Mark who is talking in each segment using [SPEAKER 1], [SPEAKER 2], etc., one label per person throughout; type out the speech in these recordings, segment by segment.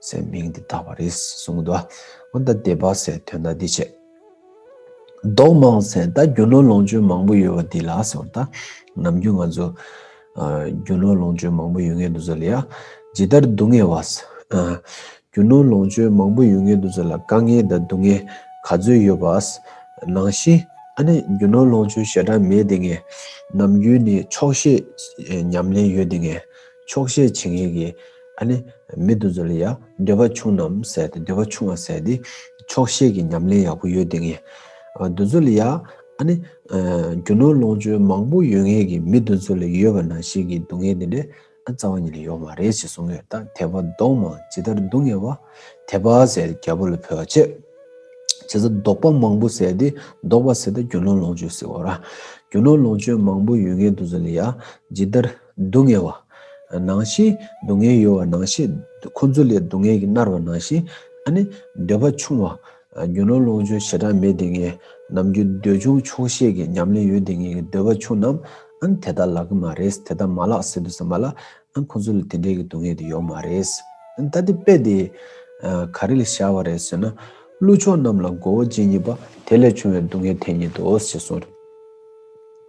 [SPEAKER 1] སའི་མིང་འདི་དག་པར་རིས་སུ་གསུངས་གདོད་མ་འོན་ཏ་སྡེ་པ་སའི་དོན་དག་འདི་བྱེད། མདོག་མང་སའི་ད་རྒྱུ་ནོར་ལོངས་སྤྱོད་མང་པོ་ཡོད་པ་འདི་ལགས་སེ་འོན་ཏ། ནམ་རྒྱུན་ང་ཚོ། རྒྱུ་ནོར་ལོངས་སྤྱོད་མང་པོ་ཡོད་ངེས་འདུག་ཟེར་ལ་ཡ། ཇི་ལྟར་སྡུག་བསྔལ་བ། རྒྱུ་ནོར་ལོངས་སྤྱོད་མང་པོ་ཡོད་ངེས་འདུག་ཟེར་ལ་དཀའ་ངལ་དང་སྡུག་བསྔལ་ག་ཚོད་ཡོད་པ། ནང་བཞིན། ཨ་ནི་རྒྱུ་ནོར་ལོངས་སྤྱོད་ཞེ་དྲག་མེད་དེ་ངེས། ནམ་རྒྱུན་ནི་ཆོག་ཤེས། ཉམས་ལེན་ཡོད་དེ་ངེས། ཆོག་ཤེས་བྱེད་ངེས་ཀྱི། ཨ་ནི། མི་དུ་ཚོ་ལ་ཡང་འདོད་པ་ཆུང་ནམ་ཟེར་ཏེ་འདོད་པ་ཆུང་བ་ཟེར་ཏེ། ཆོག་ཤེས་ཀྱི་ཉམས་ལེན་ཡག་པོ་ཡོད་དེ་ངས། དུ་ཚོ་ལ་ཡང་ཨ་ནི། རྒྱུ་ནོར་ལོངས་སྤྱོད་མང་པོ་ཡོད་ངེས་ཀྱི་མི་དུ་ཚོ་ལ་ཡོད་པ་ན་ཞིག་གི་སྡུག་བསྔལ་དེ་འདྲའི་རྩ་བ་ཉིད་ལ་ཡོད་མ་རེད་ཅེས་གསུངས་ཡོད་ད་དེ་བ་ལྡོག་མ་ཇི་ལྟར་སྡུག་བསྔལ་བ། དེ་བ་ཟེར་ཏེ་རྒྱལ་པོ་ལ་ཕུལ་བ་ཆེ། བྱས་ཙང་ལྡོག་པ་མང་པོ་ཟེར་ཏེ་ལྡོག་བ་ཟེར་ད་རྒྱུ་ནོར་ལོངས་སྤྱོད་ཟེར་བ་ར། རྒྱུ་ནོར་ལོངས་སྤྱོད་མང་པོ་ཡོད་ངེས་དུ་ཚོ་ལ་ཡང་ཇི་ལྟར། སྡུག་བསྔལ་བ། ནང་ཤེས་སྡུག་བསྔལ་ཡོད་བ་ནང་ཤེས། ཁོ་ཚོ་ལས་སྡུག་བསྔལ་གྱིས་མནར་བ་ནང་ཤེས། ཨ་ནི། འདོད་པ་ཆུང་བ། རྒྱུ་ནོར་ལོངས་སྤྱོད་བྱེ་བྲག་མེད་དེ་ངས། ནམ་རྒྱུན་འདོད་ཆུང་ཆོག་ཤེས་ཀྱི་ཉམས་ལེན་ཡོད་དེ་ངས་ཀྱི་འདོད་པ་ཆུང་ནམ། ཨ་ནི་དེ་ལྟར་ལག་གི་མ་རེད་དེ་ལྟར་མ་ལགས་ཟེར་དུ་ཟ་མ་ལ། ཨ་ནི་ཁོ་ཚོ་ལ་དེ་འདྲའི་གྱི་སྡུག་བསྔལ་དེ་ཡོག་མ་རེད། ཨ་ནི་ད་དེ་དཔེ་དེ། ག་རེ་ལ་བཞག་བ་རེད་ཟེར་ན། ཀླུ་ཆོག་རྣམས་ལ་མགོ་བོ་གཅིག་གཉིས་པ་དེ་ལས་ཆུང་བའི་སྡུག་བསྔལ་འཐེན་ཉེན་དུ་ཨོ་ཟེར་སོང།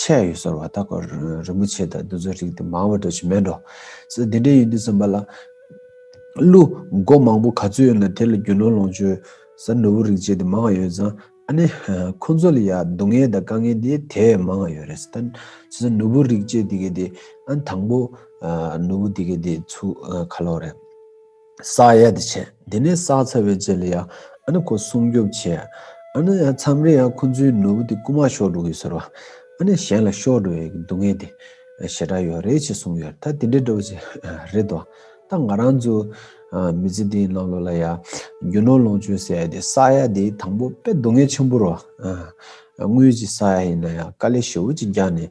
[SPEAKER 1] ཆད་ཡོད་ཟེར་བ་ལྟ་གོ། རིན་པོ་ཆེ་དང་འདི་ཚོ་རིགས་དེ་མང་བོ་འགྲོ་ཆེད་མེད་འགྲོ། སེ་འདི་འདྲའི་ཡོད་དུས་སེམས་པ་ལ། ཀླུ། མགོ་མང་བོ་ག་ཚོད་ཡོད་ན་དེ་ལ་རྒྱུ་ནོར་ལོངས་སྤྱོད། ཟ་ནོར་བུ་རིགས་བྱས་དེ་མང་ཡོད་ཙང། ཨ་ནི། ཁོ་ཚོ་ལ་ཡ་སྡུག་བསྔལ་དང་དཀའ་ངལ་དེ་དེ་བས་མང་ཡོད་རེད། ད། ཟ་ནོར་བུ་རིགས་བྱས་དེ་གས་དེ། ཨ་ནི་དང་པོ། ནོར་བུ་དེ་གས་དེ་ཚུགས་ཁ་ལོ་རེད། བསགས་ཡས་དེ་བྱས། དེ་ནས་བསགས་ཚར་བའི་རྗེས་ལ་ཡང་ཁོ་སྲུང་སྐྱོབ་བྱས། མཚམས་རེ་ཡང་ཁོ་ཚོའི་ནོར་བུ་དེ་རྐུ་མ་ཤོར་འགྲོ་གི་ཟེར་བ། གཞན་ལ་ཤོར་འགྲོ་བའི་སྡུག་བསྔལ་དེ་ཞེ་དྲག་ཡོད་རེད་ཅེས་གསུངས་ཡོད། ད་དེ་འདྲའི་སྒྲོག་བྱེད་རེད་དོ། ད་ང་རང་ཚོའི་མི་ཚེ་འདིའི་ནང་ལོགས་ལ་ཡང་རྒྱུ་ནོར་ལོངས་སྤྱོད་ཟེར་ཡས་དེ་བསགས་ཡས་དེ་དང་པོ་དཔེ་སྡུག་བསྔལ་ཆེན་པོ་རོ། དངུལ་གྱི་བསགས་ཡས་ཡིན་ན་ཡང་དཀའ་ལས་ཞེ་བོ་ཅིག་རྒྱག་ནས།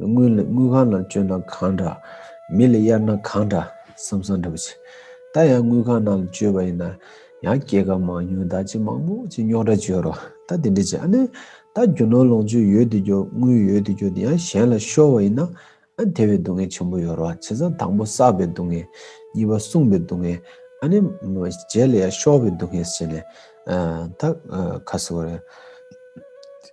[SPEAKER 1] དངུལ་ལ་དངུལ་ཁང་ནང་བཅོལ་ན་གང་འདྲ། མི་ལ་གཡར་ན་གང་འདྲ་བསམ་བསམ་འདྲ་པོ་བྱེད། ད་ཡང་དངུལ་ཁང་ནང་ལ་བཅོལ་བ་ཡིན་ན། ཡང་སྐྱེད་ཀ་མང་ཉུང་བདག་གཅེས་མང་པོ་ཅི་རྙོག་དྲ་བཅོལ་རོགས་ད་དེ་འདྲ་བྱེད་ཨ་ནི། ད་རྒྱུ་ནོར་ལོངས་སྤྱོད་ཡོད་དུ་གྱུར་དངུལ་ཡོད་དུ་གྱུར་དེ་ཡང་གཞན་ལ་ཤོར་བ་ཡིན་ན། དེ་བས་སྡུག་བསྔལ་ཆེན་པོ་ཡོད་རོགས་བྱེད་བཟའ་དང་པོ་བསགས་པའི་སྡུག་བསྔལ། གཉིས་པ་བསྲུངས་པའི་སྡུག་བསྔལ། ཨ་ནི། རྗེས་ལ་ཡང་ཤོར་བའི་སྡུག་བསྔལ་བྱེད་ནས། ད། ཁ་གསོ་རོགས།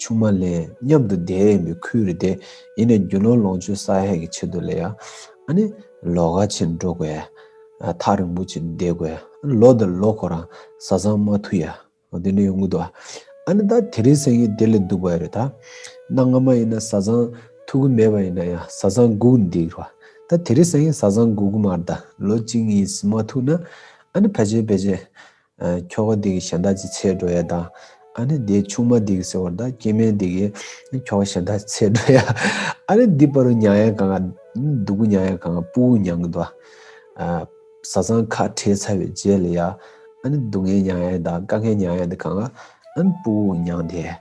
[SPEAKER 1] ཆུང་མ་ལས་མཉམ་དུ་བསྡད་ཡོད་པའི་ཁུལ་རེད་དེ། ཡིན་ནས་རྒྱུ་ནོར་ལོངས་སྤྱོད་ས་ཧད་ཀྱི་ཆེད་དུ་ལས་ཡ། ཨ་ནི། ལོ་ག་ཕྱིར་འགྲོ་དགོས་ཡ། ཐག་རིང་པོ་ཕྱིར་འདེད་དགོས་ཡ། ཨ་ནི། ལོ་འདིར་ལོ་ཁོ་རང་བཟའ་ཚང་མ་ཐུག་ཡ། ཨོ་དེ་འདྲ་ཡོང་གི་འདུག་ཨ། ཨ་ནི། ད་དེ་རིང་སེང་གེ་དེ་ལས་སྡུག་པ་ཡོད་རེད་ད། གནའ་སྔ་མ་ཡིན་ན་བཟའ་ཚང་ཐུག་གི་མེད་པ་ཡིན་ན་ཡང་བཟའ་ཚང་སྒུག་འདུག་རེད་བ། ད་དེ་རིང་སེང་གེ་བཟའ་ཚང་སྒུག་གི་མ་རེད་ད། ལོ་གཅིག་གཉིས་ཟིན་མ་ཐུག་ན། ཨ་ནི། ཕལ་ཆེར་ཕལ་ཆེར། ཁྱོ་ག་འདི་གི་གཞན་དག་ཅི་ཚེ་འགྲོ་ཡ་ད། ཨ་ནི་དེའི་ཆུང་མ་འདི་གི་ཟེར་བར་ད་སྐྱེས་དམན་འདི་གི། ཁྱོ་ག་གཞན་དག་ཅི་ཚེ་འགྲོ་ཡ། ཨ་ནི་འདི་པ་རུ་མྱང་ཡ་གང། ཨ་ནི་འདི་ཀུ་མྱང་ཡ་གང་པུ་ཀུ་མྱང་གི་ད། བཟའ་ཚང་ཁ་བྲལ་ཚར་བའི་རྗེས་ལ་ཡ། ཨ་ནི་སྡུག་བསྔལ་མྱང་ཡ་ད་དཀའ་བསྔལ་མྱང་ཡ་འདི་གང། ཨ་ནི་པུ་ཀུ་ཀུ་མྱང་དེ།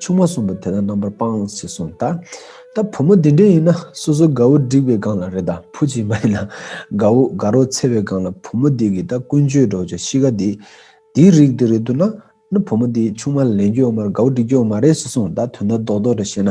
[SPEAKER 1] ཆུང་མ་གསུམ་པོ་དེ་དག་རྣམ་པར་སྤངས་ཞེས་གསུངས། ད་བུ་མོ་འདི་འདྲས་ཡིན་ན་སོ་སོའི་དགའ་བོ་བསྒྲིགས་པའི་སྒང་ལ་རེ་ད་ཕུ་ཅིག་མ་ཡིན་ན་དགའ་བོ་དགའ་རོགས་འཚལ་བའི་སྒང་ལ་བུ་མོ་འདི་གིས་ད་ཀུན་སྤྱོད་སྒྲོག་ཅིག་གཤིས་ཀ་འདི་འདིའི་རིགས་འདི་རེད་འདུག་ན་ནི་བུ་མོ་འདིས་ཆུང་མ་ལ་ལེན་རྒྱུ་ཡོད་མ་རེད་དགའ་བོ་བསྒྲིག་རྒྱུ་ཡོད་མ་རེད་ཞེས་གསུངས་ད་དོན་དག་རྡོག་རྡོག་འདྲ་བཤད་ན་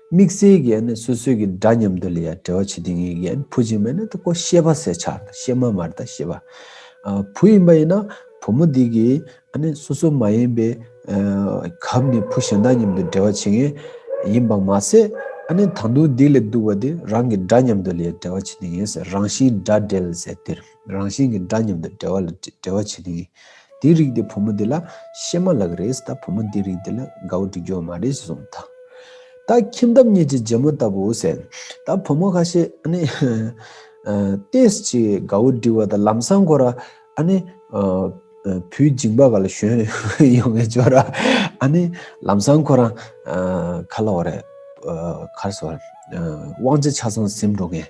[SPEAKER 1] དམིགས་བསལ་གྱི་ཡན་སོ་སོའི་གི་འདྲ་མཉམ་དུ་ལས་ཡ་དྲེ་བ་བྱེད་དེ་ངེས་ཀྱི་ཡན་བུ་གཅིག་མེད་ན་དེ་ཀོ་ཤེས་པ་སེ་ཆག་དང་ཤེས་མ་མར་དང་ཤེས་པ་བུ་ཡིན་པ་ཡིན་ན་བུ་མོ་དེ་གི་སོ་སོ་མ་ཡིན་པའི་གབ་ནི་བུ་གཞན་དང་མཉམ་དུ་འདྲེ་བ་བྱེད་ངེས་ཡིན་པ་མ་ཟད་དང་དུང་སྡིག་ལས་སྡུག་བ་དེ་རང་གི་འདྲ་མཉམ་དུ་ལས་ཡ་དྲེ་བ་བྱེད་དེ་ངེས་ཟེར་རང་བཞིན་འདྲ་འདྲེ་ལ་ཟེར་དེར། རང་བཞིན་གྱི་འདྲ་མཉམ་དང་བྲལ་བ་ལ་འབྲེལ་བ་བྱེད་ཀྱི་ཡིན། དེའི་རིགས་དེ་བུ་མོ་དེ་ལ་ཤེས་མ་ལགས་རེད་ད་བུ་མོ་དེའི་རིགས་དེ་ལ་དགའ་བོ་འགྲིག་རྒྱུ་བ་མ་རེད་ཅེས་གསུངས་ད། ད་ཁྱིམ་ཐབ་གཉིས་ཀྱི་རྗེས་མོ་ལྟ་བུ་ཟེར། ད་བུ་མོ་ཁ་ཤས་ཨ་ནི། ཏེས་ཀྱིས་དགའ་བོ་འགྲིག་བ་དང་ལམ་སང་ཁོ་ར་ཨ་ནི། བུའི་མཇིང་པ་ག་ལ་ཞོན་ཡོང་བའི་ཇོ་ར་ཨ་ནི། ལམ་སང་ཁོ་རང། ཁ་ལ་འོ་རེད། ཁར་སོ། དབང་ཆ་ཆ་ཚང་ཟིན་འགྲོ་མཁན།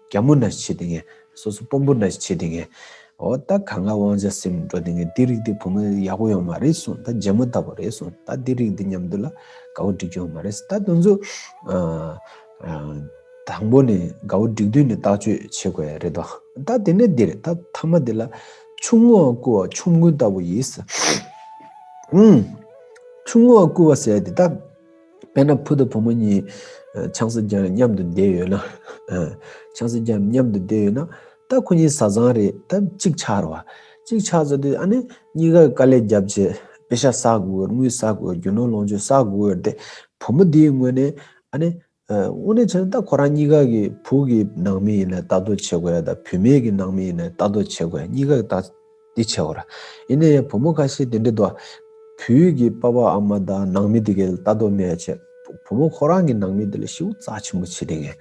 [SPEAKER 1] རྒྱ་མོ་འདྲ་བྱེད་དེ་ངས། སོ་སོ་སྤོམ་པོ་འདྲ་བྱེད་དེ་ངས། འོ་ད་ག་ང་དབང་ཆ་སེམས་འགྲོ་དེ་ངས་འདི་རིགས་འདི་བུ་མོ་ཡག་པོ་ཡོང་མ་རེད་གསུངས་ད་རྗེ་མོ་ལྟ་བུ་རེད་གསུངས་ད་འདི་རིགས་འདི་མཉམ་དུ་ལ་དགའ་བོ་འགྲིག་གི་ཡོང་མ་རེད་ད་དུང་ཚོ། དང་པོ་ནས་དགའ་བོ་འགྲིག་དུས་ནས་བརྟག་བཅོས་བྱེད་དགོས་རེད་དོ། ད་དེ་ནས་འདི་རེད་ད་མཐའ་མ་དེ་ལ། ཆུང་ངུ་བ་སྐུ་བ་ཆོམ་རྐུན་ལྟ་བུ་ཡིས། ཆུང་ངུ་བ་སྐུ་བ་ཟེར་དེ་ད། དཔེར་ན་བུ་དང་བུ་མོ་གཉིས་ཆང་སྲིད་རྒྱབ་མཉམ་དུ་བསྡད་ཡོད་ན། ཆང་སྲིད་རྒྱབ་མཉམ་དུ་བསྡད་ཡོད་ན། ད་ཁོ་གཉིས་བཟའ་ཚང་རེད་ད་གཅིག་ཆགས་རོགས། གཅིག་ཆགས་ཟེར་དུས་ཨ་ནི་གཉིས་ཀར་དཀའ་ལས་རྒྱབ་ཆེད་དཔེ་ཤ་བསགས་དགོས་དངུལ་བསགས་དགོས་རྒྱུ་ནོར་ལོངས་སྤྱོད་བསགས་དགོས་འོས་ཏེ། བུ་མོ་དེའི་ངོས་ནས་ཨ་ནི། དངོས་གནས་བྱས་ན་ད་ཁོ་རང་གཉིས་ཀ་གི་བུ་གི་ནང་མི་ཡིན་ན་ལྟ་རྟོག་བྱེད་དགོས་ཡ་ད་བུད་མེད་ཀྱི་ནང་མི་ཡིན་ན་ལྟ་རྟོག་བྱེད་དགོས་ཡ་གཉིས་ཀ་གི་ལྟ། འདི་ཆེ་བར། ཡིན་ན་ཡང་བུ་མོ་ཁ་ཤས་དེ་འདྲི་དོ། བུའི་གི་པ་པ་ཨ་མ་དང་ནང་མི་དེ་གི་ལ་ལྟ་དོ་མེད་ཅེས། བུ་མོ་ཁོ་རང་གི་ནང་མི་དེ་ལ་ཤི་བོ་རྩ་ཆེན་པོ་བྱེད་དེ་ངས།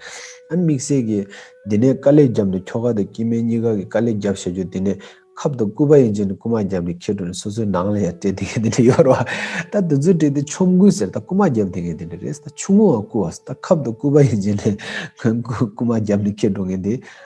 [SPEAKER 1] ཨ་དམིགས་བསལ་གི། འདི་ནས་དཀའ་ལས་རྒྱབ་འདུག་ཁྱོ་ག་དང་སྐྱེས་དམན་གཉིས་ཀ་གི་དཀའ་ལས་རྒྱབ་བཤད་རྒྱུ་དེ་ནས། ཁབ་དང་སྐུད་པ་ཡིན་ཅིག་ནི་རྐུ་མ་རྒྱབ་ནས་ཁྱེར་འགྲོ་ནས་སོ་སོའི་ནང་ལ་ཡང་སྤྲད་དེ་ངས་དེ་འདྲི་ཡོད་རོགས། ད་དེ་ཚོའི་གྲས་དེ་ཆོམ་རྐུན་ཟེར་ད་རྐུ་མ་རྒྱབ་དེ་ངས་དེ་འདྲི་རེད་ཟེར་ད་ཆུང་ངུའང་རྐུ་བ་ཟེར་ད་ཁབ་དང་སྐུད་པ་ཡིན་ཅིག་ནི། རྐུ་མ་རྒྱབ་ནས་ཁྱེར་འགྲོ་ངས་དེ།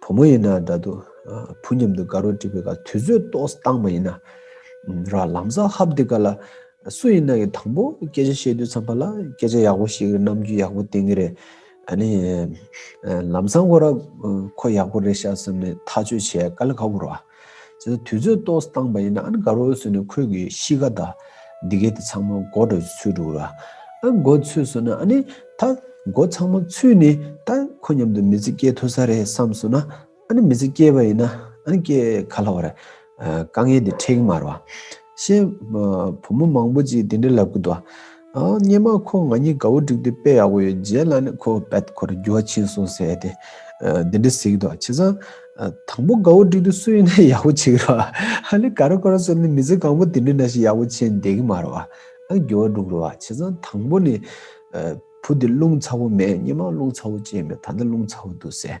[SPEAKER 1] བུ་མོ་ཡིན་ན་འདྲ་འདུག་བུ་མཉམ་དུ་དགའ་རོགས་བྲིས་པའི་ག་དུས་ཚོད་ལྟོགས་སྟངས་མ་ཡིན་ན་ར་ལམ་བཟའ་ཧབ་འདི་ག་ལ་སུ་ཡིན་ན་ཡི་དང་པོ་སྐད་ཆ་བཤད་དུས་ཚང་པ་ལ་སྐད་ཆ་ཡག་པོ་ཞིག་རྣམ་འགྱུར་ཡག་པོ་བསྟན་གྱི་རེད་ཨ་ནི་ལམ་བཟང་ཁོ་ར་ཁོ་ཡག་པོ་རེད་ཤག་བསམ་ནས་ཐག་གཅོད་བྱས་ག་ལ་ག་བུར་བ། བྱས་ན་དུས་ཚོད་གཏོང་སྟངས་པ་ཡིན་ན་ཨ་ནི་དགའ་རོགས་ཟེར་ནས་ཁོས་གི་གཤིས་ཀ་དང། འདི་གའི་དེ་ཚང་མ་མགོ་འགྲོ་ཚུལ་འགྲོ་གི་ར། ཨ་མགོ་ཚུད་སོང་ན་ཨ་ནི་ད་མགོ་ཚང་མ་ཚུད་ནས་ད་ཁོ་མཉམ་དུ་མི་ཚེ་སྐྱེལ་ཐུབ་ས་རེད་བསམ་སོང་ན་ཨ་ནི་མི་ཚེ་སྐྱེལ་བ་ཡིན་ན་ཨ་ནི་སྐྱེལ་ག་ལ་བ་རེད། དཀའ་ངལ་འདི་འཕྲད་ཀི་མ་རེད་བ། ཤེས། བུ་མོ་མང་པོ་ཅིག་དེ་འདྲའི་ལབ་གི་འདུག་བ། སྙན་མ་ཁོ་ང་གཉིས་དགའ་བོ་བསྒྲིགས་ཏེ་དཔེ་ཡག་པོ་ཡོད་རྗེས་ལ་ནི་ཁོ་བད་ཁོ་རེ་རྒྱུ་བ་ཕྱིན་སོང་ཟེར་ཏེ། འདི་འདྲ་ཟིག་དོ་བྱས་ཙང། དང་པོ་དགའ་བོ་བསྒྲིགས་དུས་སུ་ཡིན་ན་ཡག་པོ་བྱེད་ཀྱི་རོ། ཧ་ལས་ག་རོ་ག་རོ་བཟོ་ནས་མི་ཚེ་གང་པོ་དེ་འདྲའི་ན་ཞིག་ཡག་པོ་བྱེད་འདེད་ཀྱི་མ་རོ། རྒྱུ་བ་བསྒྲུག་རོ། བྱས་ཙང་དང་པོ་ནི། བུ་དེ་རླུང་ཚ་བོ་མེད་སྙན་མ་རླུང་ཚ་བོ་ཅན་མེད་ད་ལྟ་རླུང་ཚ་བོ་འདུག་ཟེར།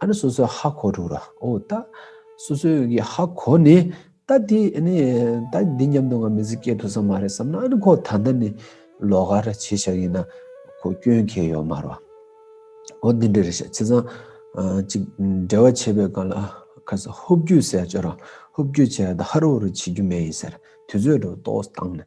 [SPEAKER 1] ཨ་ནི་སོ་སོའི་ཧ་གོ་དྲུག་ར་ཨོ་ད། སོ་སོའི་གི་ཧ་གོ་ནི། ད་དེ་ཨ་ནི་ད་འདི་སྙམ་དུ་ང་མི་ཟིག་སྐད་དུ་ས་མ་རེད་བསམ་ན་ཨ་ནི་ཁོ་ད་ལྟ་ནི་ལོག་ག་ར་བྱེད་ཤག་ཡིན་ན་ཁོ་སྐྱོན་ཁེལ་ཡོད་མ་རོ། ཨོ་འདི་འདྲ་རེད་ཤག་བྱས་ཙང། ཅིག་འབྲེལ་བ་བྱེད་པའི་སྐབས་ལ་ཁ་ས་ཧུབ་རྒྱུ་ཟེར་བྱོས་རང་ཧུབ་རྒྱུ་བྱས་ད་ཧ་རོ་རོ་བྱེད་རྒྱུ་མེད་ཡིན་ཟེར་དུས་ཚོད་དུ་ཏོག་བཏང་ནས་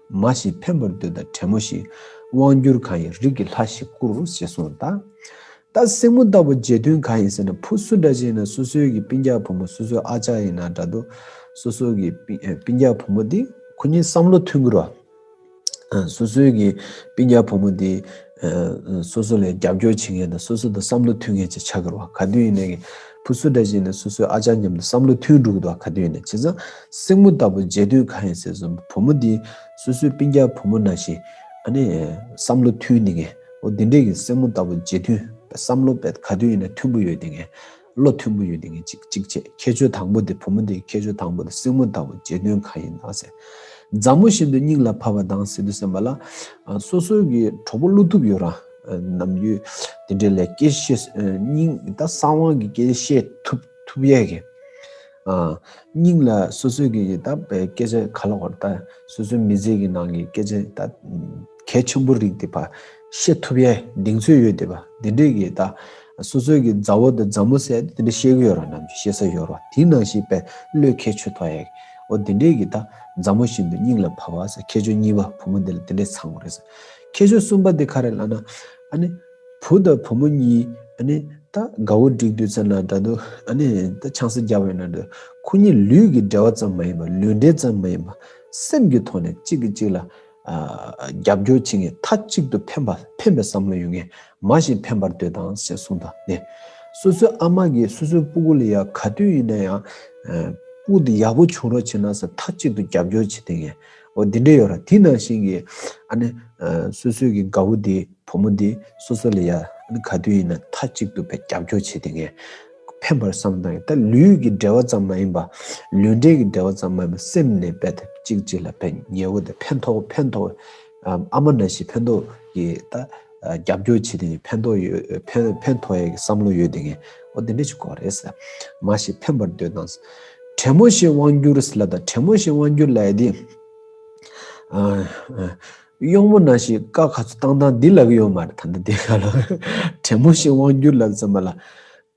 [SPEAKER 1] མ་ཞིག་འཕེན་པར་འདོད་ད་བྲན་མོ་ཞིག། དབང་བསྒྱུར་གང་ཡིན་རིགས་ཀྱི་ལྷ་ཞིག་བསྐུར་ཞེས་གསུངས་ད། ད་སྲིང་མོ་ལྟ་བུ་རྗེས་མཐུན་གང་ཡིན་ཟེར་ན་ཕུ་སུ་འདྲ་ཅན་ན་སོ་སོའི་གི་པིན་རྒྱག་བུ་མོ་སོ་སོའི་ཨ་ཅག་ཡིན་ན་འདྲ་འདུག་སོ་སོའི་གི་པིན་རྒྱག་བུ་མོ་དེ། ཁོ་གཉིས་བསམ་བློ་མཐུན་གི་རོ། སོ་སོའི་གི་པིན་རྒྱག་བུ་མོ་དེ། སོ་སོ་ལ་རྒྱབ་སྐྱོར་བྱེད་མཁན་དང་སོ་སོ་དང་བསམ་བློ་མཐུན་མཁན་ཅིག་ཆགས་དགོས་རེད། ག་དུས་ཡིན་ནའི། ཕུ་སུ་ཏྲ་ཅིག་ནི་སོ་སོའི་ཨ་ཅག་མཉམ་དུ་བསམ་བློ་མཐུན་འགྲོ་གི་འདུག་ག་དུས་ཡིན་ནའི། བྱས་ཙང། སྲིང་མོ་ལྟ་བུ་མཇལ་དུས་གང་ཡིན་ཟེར་སོང་བུ་མོ་འདི། སོ་སོའི་སྤིན་རྒྱག་བུ་མོ་ནང་བཞིན། ཨ་ནི། བསམ་བློ་མཐུན་འདི་ངས། འོ་འདི་འདྲས་ཀྱི་སྲིང་མོ་ལྟ་བུ་མཇལ་དུས། བསམ་བློ། ག་དུས་ཡིན་ནའི་མཐུན་པོ་ཡོད་འདི་ངས། བློ་མཐུན་པོ་ཡོད་དེ་ངས་ཅིག་ཅིག་བྱས་ཁྱད་ཆོས་དང་པོ་དེ་བུ་མོ་དེའི་ཁྱད་ཆོས་དང་པོ་དེ་སྲིང་མོ་ལྟ་བུ་བྱེད་དོན་གང་ཡིན་དང་ཟེར། མཛའ་མོ་བཞིན་དུ་སྙིང་ལ་ཕབ་པ་དང་ཟེར་དུས་སེམས་པ་ལ། སོ་སོའི་གི་གྲོགས་པོ་བློ་ཐུབ་ཡོད་རང་ནམ་རྒྱུ་དེ་འདྲའི་ལས་སྐྱེས་ཤེས་སྙིང་ད་གསང་དབང་གི་སྐྱེས་ཤེས་ཐུབ་ཐུབ་ཡས་གི། སྙིང་ལ་སོ་སོའི་གི་ད་བའི་སྐད་ཆ་ག་ལ་བར་ད་སོ་སོའི་མི་ཚེ་གི་ནང་གི་སྐད་ཆ་ད་གལ་ཆེན་པོ་རིགས་དེ་བ། ཤེས་ཐུབ་ཡས་གདེང་ཚོད་ཡོད་དེ་པ་འདི་འདྲས་ཀྱི་ད་སོ་སོས་ཀྱི་མཛའ་བོ་དང་མཛའ་མོ་སད་དེ་འདྲས་ཤེས་གི་ཡོད་ར་ནམ་ཅི་ཤེས་ས་ཡོད་རོ་དེའི་ནང་ཞིག་པས་བློས་ཁས་ཆོད་ཐོ་ཡས་འོ་དེ་འདྲས་ཀྱི་ད་མཛའ་མོ་བཞིན་དུ་སྙིང་ལ་བ་བ་ས་ཁྱེད་ཆོས་གཉིས་པ་བུ་མོ་འདི་ལ་དེ་འདྲས་ཚང་གོ་རེ་ས་ཁྱེད་ཆོས་གསུམ་པ་འདི་ག་རེ་ལ་ན་ཨ་ནི་བུ་དང་བུ་མོ་གཉིས་ཨ་ནི་ད་དགའ་བོ་འགྲིག་དུས་ཚོད་ན་འདྲ་འདུག་ཨ་ནི་ད་ཆང་ས་རྒྱ་བོ་ཡོད་ན་འདྲ་འདུག་ཁོ་གཉིས་ལུས་ཀྱི་འབྲེལ་བ་ཙམ་མ་ཡིན་པ་ལུས་འབྲེལ་ཙམ་མ་ཡིན་པ་སེམས་ཀྱི་ཐོག་ནས་གཅིག་གིས་གཅིག་ལ། རྒྱབ་སྐྱོར་བྱེད་མཁན་མཐའ་གཅིག་ཏུ་འཕེན་པ་འཕེན་པའི་བསམ་བློ་ཡོད་མཁན་མ་ཞིག་འཕེན་པར་འདོད་དང་ཞེས་གསུངས་དང་ལྡན། སོ་སོའི་ཨ་མ་གིས་སོ་སོའི་སྤུ་གུ་ལ་ཡང་ག་དུས་ཡིན་ན་ཡང། སྤུ་དེ་ཡག་པོ་བྱུང་རོགས་བྱེད་ན་ཟེར་མཐའ་གཅིག་ཏུ་རྒྱབ་སྐྱོར་བྱེད་ལྡན་མཁན་འོ་དེ་འདྲ་ཡོད་ར་དེ་ནང་བཞིན་གྱི་ཨ་ནི། སོ་སོའི་གི་ག་བུ་དེ་བུ་མོ་དེ་སོ་སོ་ལ་ཡང་ག་དུས་ཡིན་ན་མཐའ་གཅིག་ཏུ་བས་རྒྱབ་སྐྱོར་བྱེད་ལྡན་མཁན། ཕན་པར་བསམ་དང་ཡང་དག་ལུས་ཀྱི་འབྲེལ་བ་ཙམ་མ་ཡིན་པ། ལུས་འབྲེལ་གྱི་འབྲེལ་བ་ཙམ་མ་ཡིན་པ་སེམས་ནས་འབད་དེ་གཅིག་གཅིག་ལ་འབད་ཉལ་བོ་དེ་ཕན་ཐོགས་ཕན་ཐོགས་ཨ་མ་ན་ཞིག་ཕན་ཐོགས་ཀྱི་ད་རྒྱབ་སྐྱོར་བྱེད་དེ་ནི་ཕན་ཐོགས་ཡོད་ཕན་ཐོགས་ཡ་གི་བསམ་བློ་ཡོད་དེ་ངས་ཨོ་དེ་འདྲ་ཞིག་གོ་རེད་ཟེར་མ་ཞིག་ཕན་པར་འདོད་དང། བྲན་མོ་ཞིག་དབང་བསྒྱུར་ཟེར་ལ་དང་བྲན་མོ་ཞིག་དབང་བསྒྱུར་ལ་ཡ་དེ། གཡོག་མོ་ན་ཞིག་དཀའ་ཁ་ཚུ་བཏང་བཏང་འདི་ལ་གི་ཡོད་མ་རེད་ད་ནི་དེ་ག་ལ་བྲན་མོ་ཞིག་དབང་བསྒྱུར་ལབ་ཙམ་པ་ལ་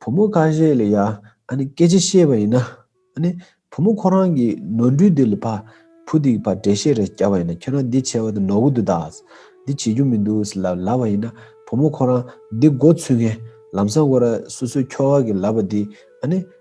[SPEAKER 1] བུ་མོ་ཁ་ཤས་ལ་ཡ་ཨ་ནི་སྐད་ཆ་བཤད་པ་ཡིན་ན་ཨ་ནི་བུ་མོ་ཁོ་རང་གི་ནོར་འཁྲུལ་འདི་ལ་ཕ་བུ་དེ་གི་བར་འབྲེལ་བཤད་རེ་བསྐྱལ་བ་ཡིན་ན་ཁྱོད་རང་འདི་བྱས་བ་དེ་ནོར་གོ་འདུག་དཱས་འདི་བྱེད་རྒྱུ་མི་འདུག་ལ་ལབ་པ་ཡིན་ན་བུ་མོ་ཁོ་རང་འདི་མགོ་ཚུད་ངས་ལམ་སང་ཀོ་ར་སོ་སོའི་ཁྱོ་ག་གི་ལབ་པ་འདི་ཨ་ནི།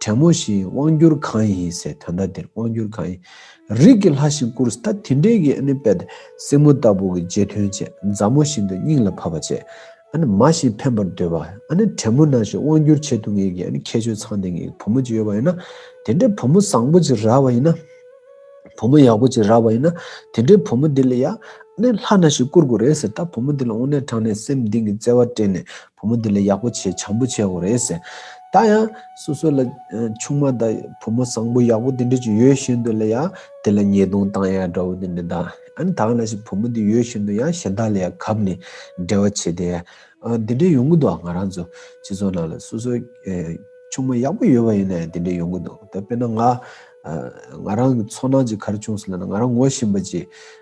[SPEAKER 1] བྲན་མོ་བཞིའི་དབང་བསྒྱུར་གང་ཡིན་ཟེར་དོན་ལྟ་དེར་དབང་བསྒྱུར་གང་ཡིན། རིགས་ཀྱི་ལྷ་བཞིན་བཀུར་ཟ་ད་དེ་འདྲའི་གིས་ཨ་ནི་སྲིང་མོ་ལྟ་བུ་གི་རྗེས་མཐུན་བྱེད་མཛའ་མོ་བཞིན་དུ་སྙིང་ལ་བབས་པ་བྱེད་ཨ་ནི་མ་བཞིན་ཕན་པར་འདོད་པ་ཨ་ནི་བྲན་མོ་ན་བཞིན་དབང་བསྒྱུར་བྱེད་ཐུབ་ངེས་ཀྱི་ཨ་ནི་ཁྱད་ཆོས་ཚང་ལྡན་ངེས་བུ་མོ་ཅིག་ཡོད་པ་ཡིན་ན་དེ་འདྲའི་བུ་མོ་བཟང་པོ་ཅིག་རག་པ་ཡིན་ན་བུ་མོ་ཡག་པོ་ཅིག་རག་པ་ཡིན་ན་དེ་འདྲའི་བུ་མོ་དེ་ལ་ཡ་ཨ་ནི་ལྷ་ན་བཞིན་བཀུར་དགོས་རེད་ཟེར་ད་བུ་མོ་དེ་ལ་དབུ་སྣེ་དྲངས་ནས་སེམས་གཏིང་གི་བརྩེ་བ་སྤྲད་ནས་བུ་མོ་འདི་ལས་ཡག་པོ་བྱེད་བྱམས་པོ་བྱེད་འོ་རེད་ཟེར། ད་ཡང། སོ་སོ་ལ། ཆུང་མ་དང། བུ་མོ་བཟང་པོ་ཡག་པོ་དེ་འདྲ་ཅིག་ཡོད་བཞིན་དུ་ལ་ཡང། དེ་ལ་ཉེས་རྡུང་བཏང་ཡག་འདྲ་བོ་དེ་འདྲ་དང། ཨཱ་ནི་ད་ལ་ཞིག་བུ་མོ་འདི་ཡོད་བཞིན་དུ་ཡང་གཞན་དག་ལ་ཡང་གབ་ནས། འབྲེལ་བ་བྱེད་དེ། དེ་འདྲ་ཡོང་གི་འདུག་ང་རང་ཚོ། སྤྱི་ཚོགས་ནང་ལ་སོ་སོ། ཆུང་མ་ཡག་པོ་ཡོད་པ་ཡིན་ན་ཡང་དེ་འདྲ་ཡོང་གི་འདུག་ད་དཔེར་ན་ང། ང་རང་གི་ཚོར་སྣང་གཅིག་གར་བྱུང་སོང་ལ་ང་རང་ངོ་ཞེན་པ་གཅིག།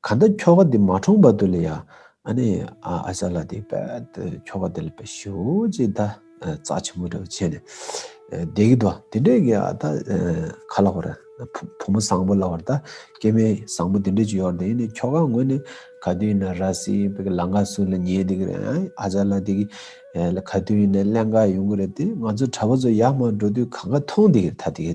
[SPEAKER 1] ག་འདི་ཁྱོ་ག་འདི་མ་འཁྲུངས་པ་དུ་ལ་ཡ་ཨ་ནི་ཨ་ཨ་ཅག་ལ་དེ་པད་དུ་ཁྱོ་ག་དེ་ལ་པད་ཤི་འོ་ཅེས་ད་ཙག་ཆེན་པོ་འདྲ་བྱས་ནས་བསྡད་གི་འདུག་དེ་འདྲས་ཀྱི་ད་ག་ལ་བར་བུ་མོ་བཟང་པོ་ལ་བར་ད་སྐྱེས་མའི་བཟང་པོ་དེ་འདྲས་ཅིག་ཡོད་དེ་ནི་ཁྱོ་ག་ངོས་ནས་ག་དུས་ཡིན་ན་ར་སི་པད་ཀྱི་ལང་ཀ་སུ་ལ་ཉེ་དེ་གི་རེད་ཨ་ཨ་ཅག་ལ་དེ་གི་ལ་ག་དུས་ཡིན་ན་གླན་ཀ་ཡོང་གི་རེད་དེ་ང་ཚོ་གྲྭ་པ་ཚོ་ཡར་མར་འགྲོ་དུས་ག་འགའ་མཐོང་དེ་གི་ད་དེ་གི་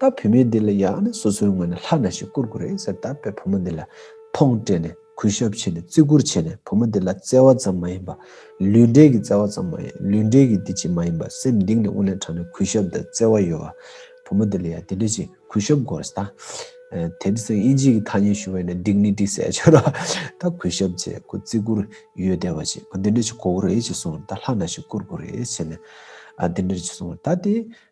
[SPEAKER 1] ད་བུད་མེད་འདི་ལ་ཡང་ནི་སོ་སོའི་ངོས་ནས་ལྷ་ན་ཞིག་བསྐུར་དགོས་རེད་ཟེར་ད་པས་བུ་མོ་འདི་ལ་ཐོངས་སྤྲད་ནས་གུས་ཞབས་བྱས་ནས་བརྩི་བཀུར་བྱས་ནས་བུ་མོ་འདི་ལ་བརྩེ་བ་ཙམ་མ་ཡིན་པ། ལུས་འབྲེལ་གྱི་བརྩེ་བ་ཙམ་མ་ཡིན་ལུས་འབྲེལ་གྱི་འདི་ཅིག་མ་ཡིན་པ་སེམས་གཏིང་ནས་དབུགས་ལེན་དྲགས་ནས་གུས་ཞབས་དང་བརྩེ་བ་ཡོད་བུ་མོ་འདི་ལ་ཡང་དེ་འདྲ་ཞིག་གུས་ཞབས་དགོས་རེད་ད། དེ་ནི་སང་ཨིན་ཇིའི་གི་ཐ་སྙད་ཞུ་བས་ནི་འགྲིག་ནི་འགྲིག་ཟེར་ཡ་ཆོད་ད་གུས་ཞབས་བྱས་དགོས་བརྩི་བཀུར་ཡོད་བསྡད་པ་ཞིག་འདི་འདྲ་ཞིག་གོ་དགོས་རེད་ཅེས་གསུངས་ད་ལྷ་ན་ཞིག་བསྐུར་དགོས་རེད་བྱས་ནས་འདི་འདྲ་ཞིག་གསུངས་ད་དེ།